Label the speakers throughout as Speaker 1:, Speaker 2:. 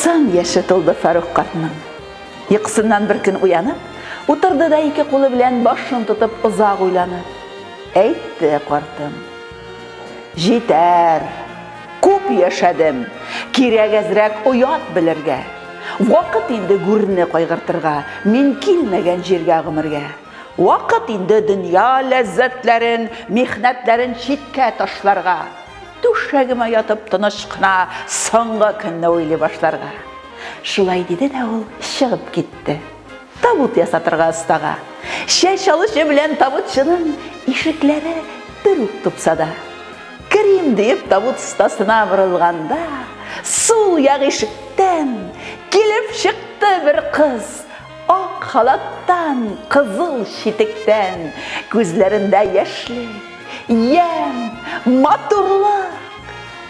Speaker 1: 90 яше тулды Фарух картның. Йокысыннан бер көн уянып, утырды да ике кулы белән башын тотып озак уйланып. Әйтте картым. Җитәр! Күп яшәдем. Кирәк әзрәк оят белергә. Вакыт инде гүрне кайгыртырга, мин килмәгән җиргә гомергә. Вакыт инде дөнья ләззәтләрен, михнәтләрен читкә ташларга. Түшәгемә ятып тыныч кына соңгы көнне уйлый башларга. Шулай диде дә ул чыгып китте. Табут ясатырга остага. Чәч алучы белән табутчының ишекләре бер үк тупсада. Керим диеп табут остасына борылганда, сул як ишектән килеп чыкты бер кыз. Ак халаттан, кызыл читектән, күзләрендә яшьлек, ямь, матурлык.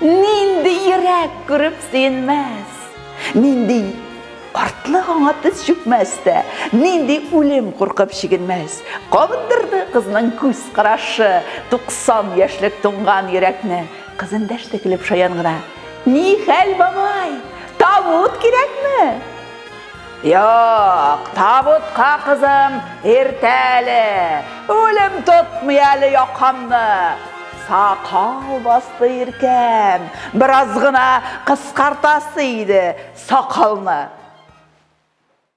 Speaker 1: Нинди йөрәк күреп сөенмәс? Нинди картлык аңа тез чүкмәс тә, нинди үлем куркып чигенмәс? Кабындырды кызның күз карашы 90 яшьлек туңган йөрәкне. Кыз эндәште көлеп шаян гына, Ни хәл, бабай, табут кирәкме? Юк, табутка кызым, иртә әле. Үлем тотмый әле якамны. Сакал басты иркәм. Бераз гына кыскартасы иде сакалны.